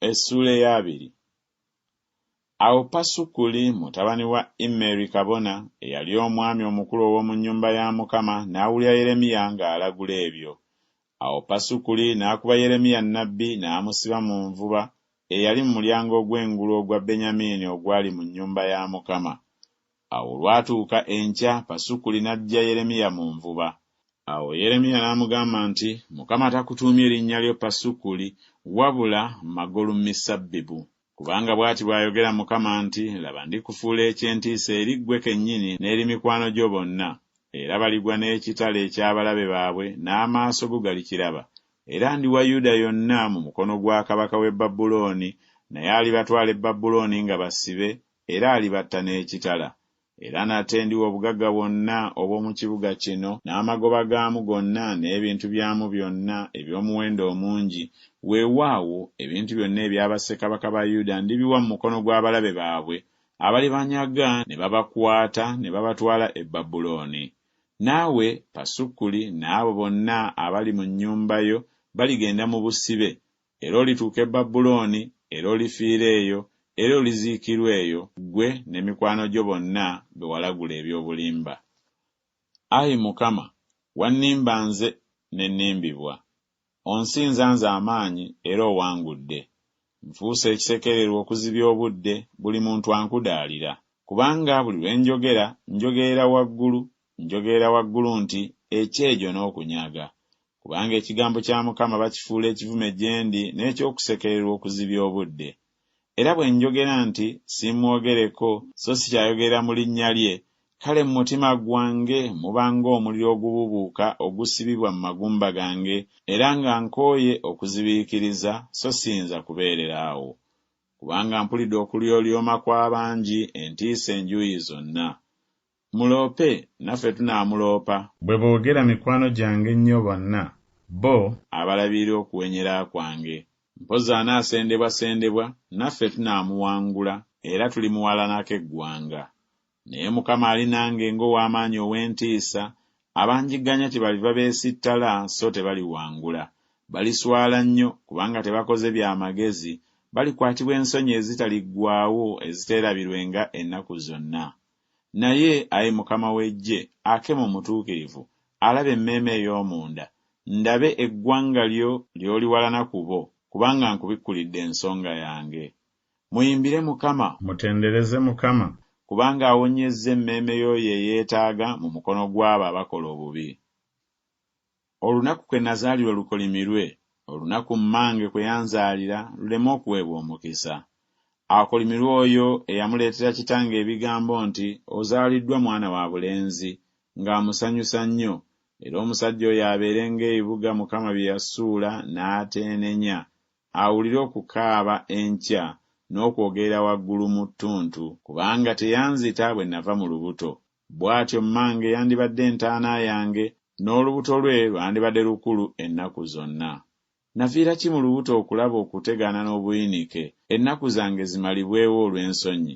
Essuula ey'abiri. Awo Pasukuli mutabani wa Immeri kabona, eyali omwami omukulu ow'omu nnyumba ya Mukama, n'awulira Yeremiya ng'alagula ebyo. Awo Pasukuli n'akuba Yeremiya nnabbi n'amusiba mu nvuba eyali mu mulyango ogw'engulu ogwa Benyamiini ogwali mu nnyumba ya Mukama. Awo olwatuuka enkya Pasukuli n'aggya Yeremiya mu nvuba. Awo Yeremiya n'amugamba nti, Mukama takutuumye linnya lyo Pasukuli, wabula Magolumisabbibu. Kubanga bw'ati bw'ayogera Mukama nti, Laba ndikufuula eky'entiisa eri ggwe kennyini n'eri mikwano gyo bonna, era baligwa n'ekitala eky'abalabe baabwe n'amaaso go galikiraba, era ndiwa Yuda yonna mu mukono gwa kabaka w'e Babulooni, naye alibatwala e Babulooni nga basibe, Era alibatta n'ekitala. Era nate ndiwa obugagga bwonna obw'omu kibuga kino, n'amagoba gaamu gonna, n'ebintu byamu byonna eby'omuwendo omungi, weewaawo, ebintu byonna ebya bassekabaka ba Yuda ndibiwa mu mukono gw'abalabe baabwe, abalibanyaga ne babakwata ne babatwala e Babulooni. Naawe, Pasukuli, n'abo bonna abali mu nnyumba yo baligenda mu busibe, Era olituuka e Babulooni, era olifiira eyo, era oliziikirwa eyo, ggwe ne mikwano gyo bonna be walagula eby'obulimba. Ayi Mukama, wannimba nze, ne nnimbibwa. Onsinza nze amaanyi, era owangudde. Nfuuse ekisekererwa okuzibya obudde, buli muntu ankudaalira. Kubanga buli lwe njogera, njogerera waggulu, njogerera waggulu nti, Ekyejo n'okunyaga! Kubanga ekigambo kya Mukama bakifuula ekivume gye ndi n'eky'okusekererwa okuzibya obudde. Era bwe njogera nti, Simmwogereko, so si kyayogera mu linnya lye, kale mu mutima gwange muba ng'omuliro ogubuubuuka ogusibibwa mu magumba gange, era nga nkooye okuzibiikiriza, so siyinza kubeerera awo. Kubanga mpulidde okulyolyoma kw'abangi, entiisa enjuuyi zonna. Muloope naffe tunaamuloopa. Bwe boogera mikwano gyange ennyo bonna bo. Abalabirira okuwenyera kwange. Mpozzi anaasendebwasendebwa naffe tunaamuwangula era tulimuwalanako eggwanga. Naye Mukama ali nange ng'ow'amaanyi ow'entiisa, abanjigganya kyebaliva beesittala so tebaliwangula. Baliswala nnyo kubanga tebakoze bya magezi, balikwatibwa ensonyi ezitaliggwaawo eziteerabirwenga ennaku zonna. Naye, ayi Mukama w'eggye, Akemu omutuukirivu, alaba emmeeme ey'omunda, ndabe eggwanga lyo ly'oliwalana ku bo, kubanga nkubikkulidde ensonga yange. Muyimbire Mukama! Mutendereze Mukama! Kubanga awonyezza emmeeme y'oyo eyeetaaga mu mukono gw'abo abakola obubi. Olunaku kwe nazaalirwa lukolimirwe, olunaku mmange kwe yanzaalira luleme okuweebwa omukisa. Akolimirwe oyo eyamuleetera kitange ebigambo nti, Ozaaliddwa mwana wa bulenzi! ng'amusanyusa nnyo, era omusajja oyo abeere ng'ebibuga Mukama bye yasuula n'ateenenya, awulire okukaaba enkya n'okwogerera waggulu mu ttuntu, kubanga teyanzita bwe nava mu lubuto. Bw'atyo mmange yandibadde entaana yange, n'olubuto lwe lwandibadde lukulu ennaku zonna. Nafiira ki mu lubuto okulaba okutegaana n'obuyinike, ennaku zange zimalibwewo olw'ensonyi?